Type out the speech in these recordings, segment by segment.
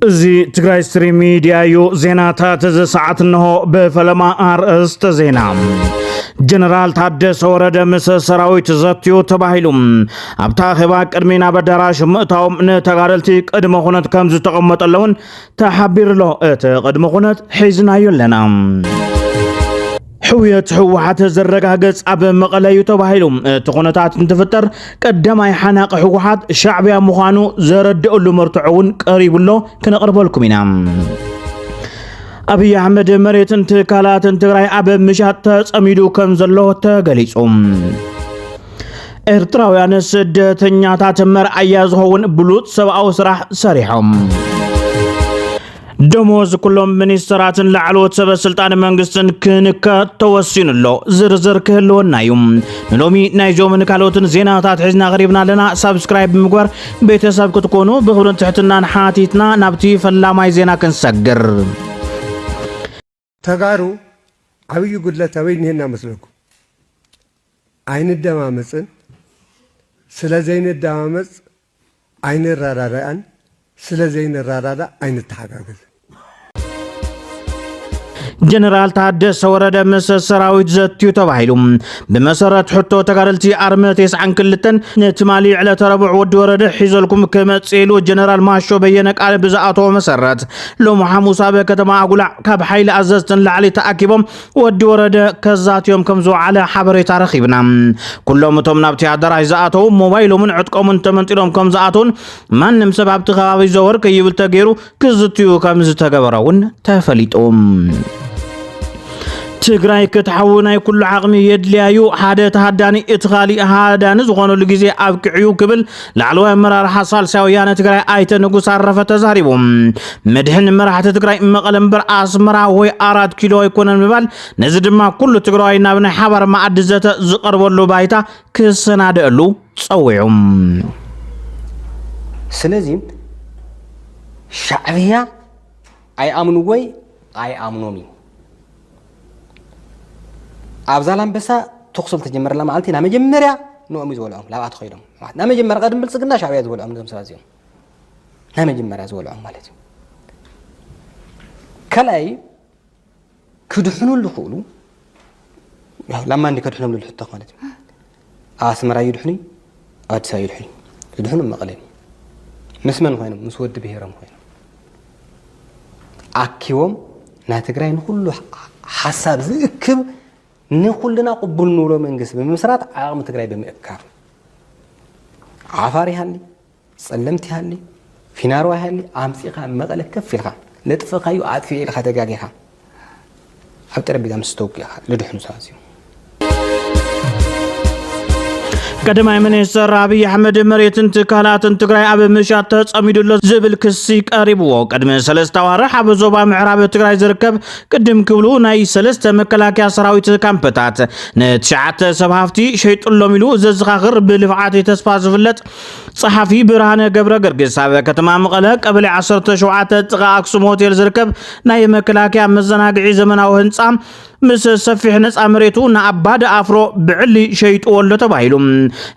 እዚ ትግራይ ስትሪም ሚዲያ እዩ። ዜናታት እዚ ሰዓት እንሆ ብፈለማ ኣርእስተ ዜና ጀነራል ታደሰ ወረደ ምስ ሰራዊት ዘትዩ ተባሂሉ ኣብታ ኣኼባ ቅድሚ ናብ ኣዳራሽ ምእታዎም ንተጋደልቲ ቅድመ ኩነት ከም ዝተቐመጠለውን ተሓቢሩሎ እቲ ቅድመ ኩነት ሒዝናዮ ኣለና ሕውየት ህወሓት ዝረጋገፅ ኣብ መቐለ እዩ ተባሂሉ እቲ ኩነታት እንትፍጠር ቀዳማይ ሓናቂ ህወሓት ሻዕቢያ ምዃኑ ዘረድእሉ መርትዖ እውን ቀሪቡ ኣሎ ክነቕርበልኩም ኢና ኣብይ ኣሕመድ መሬትን ትካላትን ትግራይ ኣብ ምሻጥ ተፀሚዱ ከም ዘሎ ተገሊፁ ኤርትራውያን ስደተኛታት መርኣያ ዝኸውን ብሉፅ ሰብኣዊ ስራሕ ሰሪሖም ደሞዝ ኩሎም ሚኒስትራትን ላዕለዎት ሰበ ስልጣን መንግስትን ክንከ ተወሲኑ ኣሎ ዝርዝር ክህልወና እዩ ንሎሚ ናይዞምን ካልኦትን ዜናታት ሒዝና ቀሪብና ኣለና ሳብስክራይብ ብምግባር ቤተሰብ ክትኮኑ ብክብርን ትሕትናን ሓቲትና ናብቲ ፈላማይ ዜና ክንሰግር ተጋሩ ዓብይ ጉድለት ኣበይ እኒሀና መስለኩም? ኣይንደማመፅን፣ ስለዘይንደማመፅ ኣይንረዳዳእን፣ ስለዘይንረዳዳእ ኣይንተሓጋገዝን። ጀነራል ታደሰ ወረደ ምስ ሰራዊት ዘትዩ ተባሂሉ ብመሰረት ሕቶ ተጋደልቲ ኣርመ ቴስዓን ክልተን ንትማሊ ዕለተ ረቡዕ ወዲ ወረደ ሒዘልኩም ክመጽእ ኢሉ ጀነራል ማሾ በየነ ቃል ብዝኣተዎ መሰረት ሎሚ ሓሙስ ኣብ ከተማ ኣጉላዕ ካብ ሓይሊ ኣዘዝቲ ንላዕሊ ተኣኪቦም ወዲ ወረደ ከዛትዮም ከም ዝወዓለ ሓበሬታ ረኺብና። ኩሎም እቶም ናብቲ ኣዳራሽ ዝኣተዉ ሞባይሎምን ዕጥቆምን ተመንጢሎም ከም ዝኣተዉን ማንም ሰብ ኣብቲ ከባቢ ዘወር ከይብል ተገይሩ ክዝትዩ ከም ዝተገበረ እውን ተፈሊጡ። ትግራይ ክትሓዊ ናይ ኩሉ ዓቕሚ የድልያ እዩ ሓደ ተሃዳኒ እቲ ካሊእ ሃዳኒ ዝኾነሉ ግዜ ኣብቂዑ ክብል ላዕለዋይ ኣመራርሓ ሳልሳይ ወያነ ትግራይ ኣይተ ንጉስ ኣረፈ ተዛሪቡ። መድሕን መራሕቲ ትግራይ መቐለ እምበር ኣስመራ ወይ ኣራት ኪሎ ኣይኮነን ምባል፣ ነዚ ድማ ኩሉ ትግራዋይ ናብ ናይ ሓባር መኣዲ ዘተ ዝቐርበሉ ባይታ ክሰናደኣሉ ጸዊዑ። ስለዚ ሻዕብያ ኣይኣምንዎይ ኣይኣምኖም እዩ። ኣብ ዛላምበሳ ተኩሶም ተጀመረላ መዓልቲ ናብ መጀመርያ ንኦም እዩ ዝበልዖም ላብኣ ተኸይዶም ናብ መጀመርያ ቀድም ብልፅግና ሻዕብያ ዝበልዖም እዞም ሰባት እዚኦም ናይ መጀመርያ ዝበልዖም ማለት እዩ ካልኣይ ክድሕኑ ዝኽእሉ ላማ እንዲ ከድሕኖም ዝብል ሕቶ ማለት እዩ ኣስመራ ይድሕኑ ኣዲስ ኣበባ ይድሕኑ ይድሕኑ መቐለ ምስ መን ኮይኖም ምስ ወዲ ብሄሮም ኮይኖም ኣኪቦም ናይ ትግራይ ንኩሉ ሓሳብ ዝእክብ ንኩልና ቅቡል ንብሎ መንግስቲ ብምምስራት ዓቕሚ ትግራይ ብምእካብ ዓፋር ይሃሊ ጸለምት ይሃሊ ፊናሮ ይሃሊ ኣምጺኻ ኣብ መቐለ ከፍ ኢልኻ ለጥፍኻዩ ኣጥፊኤ ኢልኻ ተጋጊኻ ኣብ ጠረጴዛ ምስ ተወጊእኻ ልድሕኑ ሰባት እዚኦም ቀዳማይ ሚኒስትር ኣብይ ኣሕመድ መሬትን ትካላትን ትግራይ ኣብ ምሻት ተጸሚዱ ኣሎ ዝብል ክሲ ቀሪብዎ ቅድሚ ሰለስተ ኣዋርሕ ኣብ ዞባ ምዕራብ ትግራይ ዝርከብ ቅድም ክብሉ ናይ ሰለስተ መከላከያ ሰራዊት ካምፕታት ንትሽዓተ ሰብ ሃፍቲ ሸይጡሎም ኢሉ ዘዘኻኽር ብልፍዓት ተስፋ ዝፍለጥ ጸሓፊ ብርሃነ ገብረገርግስ ኣብ ከተማ መቐለ ቀበሌ ዓሰርተ ሸውዓተ ጥቓ ኣክሱም ሆቴል ዝርከብ ናይ መከላከያ መዘናግዒ ዘመናዊ ህንፃ ምስ ሰፊሕ ነፃ መሬቱ ንኣባዲ ኣፍሮ ብዕሊ ሸይጥዎ ኣሎ ተባሂሉ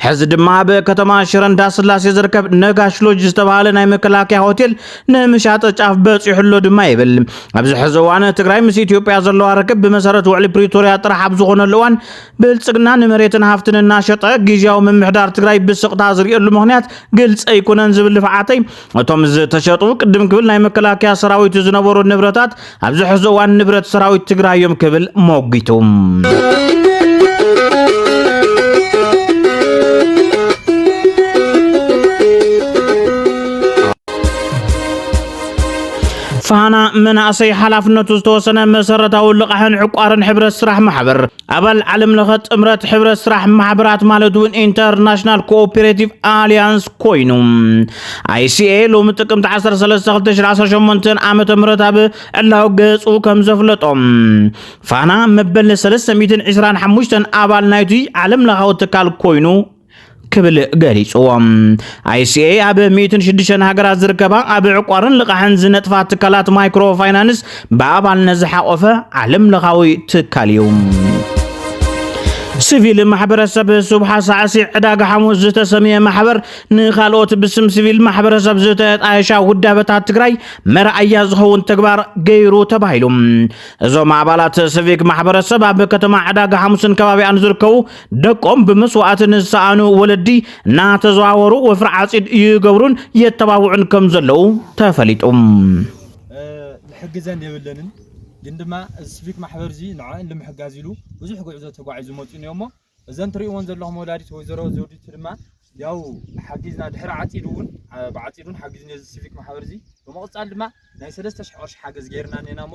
ሕዚ ድማ ኣብ ከተማ ሽረ እንዳስላሴ ዝርከብ ነጋሽ ሎጅ ዝተባሃለ ናይ መከላከያ ሆቴል ንምሻጠ ጫፍ በፂሑ ኣሎ ድማ ይብል ኣብዚ ሕዚ እዋን ትግራይ ምስ ኢትዮጵያ ዘለዋ ርክብ ብመሰረት ውዕሊ ፕሪቶሪያ ጥራሕ ኣብ ዝኾነሉ እዋን ብልፅግና ንመሬትን ሃፍትን እናሸጠ ግዝያዊ ምምሕዳር ትግራይ ብስቕታ ዝርእየሉ ምኽንያት ግልፂ ኣይኮነን ዝብል ልፍዓተይ እቶም ዝተሸጡ ቅድም ክብል ናይ መከላከያ ሰራዊት ዝነበሩ ንብረታት ኣብዚ ሕዚ እዋን ንብረት ሰራዊት ትግራይ እዮም ክብል ሞጒቱ። ፋና መናእሰይ ሓላፍነቱ ዝተወሰነ መሰረታዊ ልቓሕን ዕቋርን ሕብረት ስራሕ ማሕበር ኣባል ዓለም ለኸ ጥምረት ሕብረት ስራሕ ማሕበራት ማለት እውን ኢንተርናሽናል ኮኦፔሬቲቭ ኣሊያንስ ኮይኑ ኣይሲኤ ሎሚ ጥቅምቲ 13 2018 ዓ ም ኣብ ዕላዊ ገጹ ከም ዘፍለጦም ፋና መበል 325 ኣባል ናይቲ ዓለም ለኻዊ ትካል ኮይኑ ክብል ገሊጽዎ። ICA ኣብ ሚእትን ሽዱሽተን ሃገራት ዝርከባ ኣብ ዕቋርን ልቓሕን ዝነጥፋ ትካላት ማይክሮ ፋይናንስ ብኣባልነት ዝሓቖፈ ዓለም ለኻዊ ትካል እዩ። ሲቪል ማሕበረሰብ ሱብሓ ሳዕሲዕ ዕዳጋ ሓሙስ ዝተሰምየ ማሕበር ንካልኦት ብስም ሲቪል ማሕበረሰብ ዝተጣየሻ ውዳበታት ትግራይ መርኣያ ዝኸውን ተግባር ገይሩ ተባሂሉ እዞም ኣባላት ሲቪክ ማሕበረሰብ ኣብ ከተማ ዕዳጋ ሓሙስን ከባቢኣን ዝርከቡ ደቆም ብምስዋእቲ ንዝሰኣኑ ወለዲ እናተዘዋወሩ ወፍሪ ዓፂድ ይገብሩን የተባብዑን ከም ዘለዉ ተፈሊጡ። ዝሕግዘን የብለንን ግን ድማ እዚ ሲቪክ ማሕበር እዚ ንዕዕን ንምሕጋዝ ኢሉ ብዙሕ ጉዕዞ ተጓዒዙ መፅኡን እዮሞ እዘን ትሪእዎን ዘለኹም ወላዲት ወይዘሮ ዘውዲቱ ድማ ያው ሓጊዝና ድሕሪ ዓፂድ እውን ብዓፂድ እውን ሓጊዝኒ እዚ ሲቪክ ማሕበር እዚ ብምቕፃል ድማ ናይ ሰለስተ ሽሕ ቅርሺ ሓገዝ ገይርና እኔና እሞ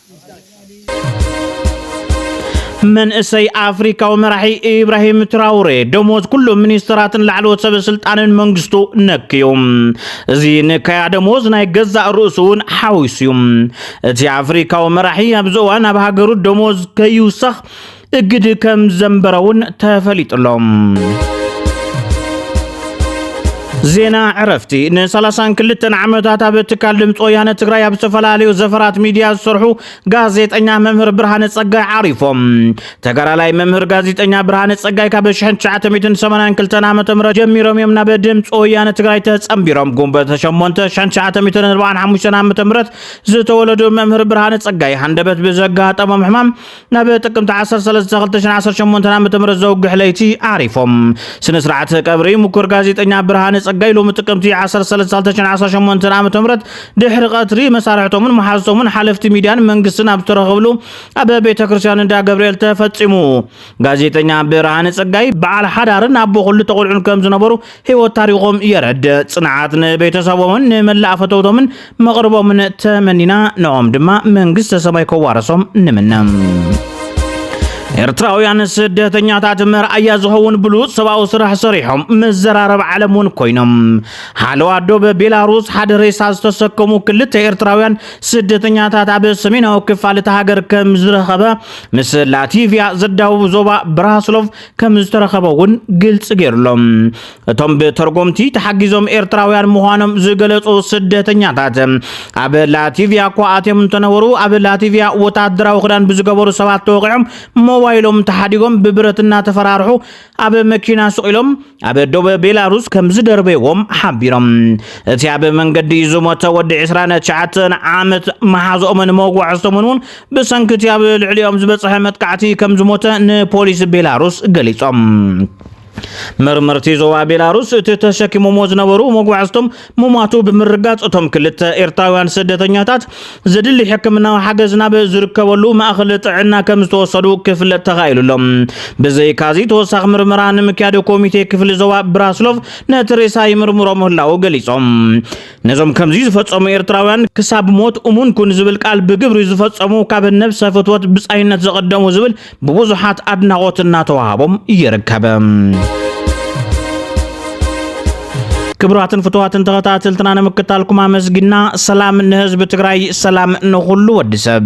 መንእሰይ ኣፍሪካዊ መራሒ ኢብራሂም ትራውሬ ደሞዝ ኩሎም ሚኒስትራትን ላዕለዎት ሰበ ስልጣንን መንግስቱ ነክዩ እዚ ንካያ ደሞዝ ናይ ገዛእ ርእሱ እውን ሓዊሱ እዩ እቲ ኣፍሪካዊ መራሒ ኣብዚ እዋን ኣብ ሃገሩ ደሞዝ ከይውሰኽ እግድ ከም ዘንበረውን ተፈሊጡሎም። ዜና ዕረፍቲ ንሰላሳን ክልተን ዓመታት ኣብ ትካል ድምፂ ወያነ ትግራይ ኣብ ዝተፈላለዩ ዘፈራት ሚድያ ዝሰርሑ ጋዜጠኛ መምህር ብርሃነ ፀጋይ ዓሪፎም ተጋዳላይ መምህር ጋዜጠኛ ብርሃነ ፀጋይ ካብ 1982 ዓ ም ጀሚሮም እዮም ናብ ድምፂ ወያነ ትግራይ ተፀምቢሮም ጉንበት 8 1945 ዓ ም ዝተወለዱ መምህር ብርሃነ ፀጋይ ሃንደበት ብዘጋጠሞም ሕማም ናብ ጥቅምቲ ዓሰርተ ሰለስተ ክልተ ሽሕን ዓሰርተ ሸሞንተን ዓመተ ምህረት ዘውግሕ ለይቲ ዓሪፎም። ስነ ስርዓት ቀብሪ ምኩር ጋዜጠኛ ብርሃነ ጸጋይ ሎሚ ጥቅምቲ ዓሰርተ ሰለስተ ክልተ ሽሕን ዓሰርተ ሸሞንተን ዓመተ ምህረት ድሕሪ ቀትሪ መሳርሕቶምን መሓዝቶምን ሓለፍቲ ሚድያን መንግስትን ኣብ ዝተረኸብሉ ኣብ ቤተ ክርስቲያን እንዳ ገብርኤል ተፈጺሙ። ጋዜጠኛ ብርሃነ ጸጋይ በዓል ሓዳርን ኣቦ ክልተ ቆልዑን ከም ዝነበሩ ህይወት ታሪኾም የረድእ። ጽንዓት ንቤተሰቦምን ንመላእ ፈተውቶምን መቕርቦምን ተመኒና ንኦም ድማ መንግስተ ሰማይ ከዋረሶም ንምነ። ኤርትራውያን ስደተኛታት መርኣያ ዝኸውን ብሉፅ ሰብኣዊ ስራሕ ሰሪሖም መዘራረብ ዓለም እውን ኮይኖም ሓለዋ ዶብ ቤላሩስ ሓደ ሬሳ ዝተሰከሙ ክልተ ኤርትራውያን ስደተኛታት ኣብ ሰሜናዊ ክፋል እቲ ሃገር ከም ዝረኸበ ምስ ላቲቪያ ዘዳውብ ዞባ ብራስሎቭ ከም ዝተረኸበ እውን ግልፂ ገይሩሎም እቶም ብተርጎምቲ ተሓጊዞም ኤርትራውያን ምዃኖም ዝገለፁ ስደተኛታት ኣብ ላቲቪያ እኳ ኣትዮም እንተነበሩ ኣብ ላቲቪያ ወታደራዊ ክዳን ብዝገበሩ ሰባት ተወቂዖም ሞባይሎም ተሓዲጎም ብብረት እናተፈራርሑ ኣብ መኪና ስቂሎም ኣብ ዶበ ቤላሩስ ከም ዝደርበይዎም ሓቢሮም እቲ ኣብ መንገዲ ዝሞተ ወዲ 29 ዓመት መሓዝኦምን መጓዕዝቶምን እውን ብሰንኪ እቲ ኣብ ልዕሊኦም ዝበፅሐ መጥቃዕቲ ከም ዝሞተ ንፖሊስ ቤላሩስ ገሊፆም። መርመርቲ ዞባ ቤላሩስ እቲ ተሸኪሞሞ ዝነበሩ መጓዕዝቶም ምሟቱ ብምርጋፅ እቶም ክልተ ኤርትራውያን ስደተኛታት ዘድሊ ሕክምናዊ ሓገዝ ናብ ዝርከበሉ ማእኸል ጥዕና ከም ዝተወሰዱ ክፍለጥ ተኻኢሉ ኣሎ ብዘይካዚ ተወሳኺ ምርመራ ንምክያድ ኮሚቴ ክፍሊ ዞባ ብራስሎቭ ነቲ ሬሳ ይምርምሮ ምህላው ገሊፆም ነዞም ከምዚ ዝፈጸሙ ኤርትራውያን ክሳብ ሞት እሙን ኩን ዝብል ቃል ብግብሪ ዝፈጸሙ ካብ ነብሰ ፍትወት ብጻይነት ዘቐደሙ ዝብል ብብዙሓት ኣድናቖት እናተዋሃቦም ይርከብ። ክብራትን ፍትዋትን ተኸታተልትና ንምክታልኩም ኣመስጊና ሰላም ንህዝቢ ትግራይ፣ ሰላም ንኹሉ ወዲ ሰብ።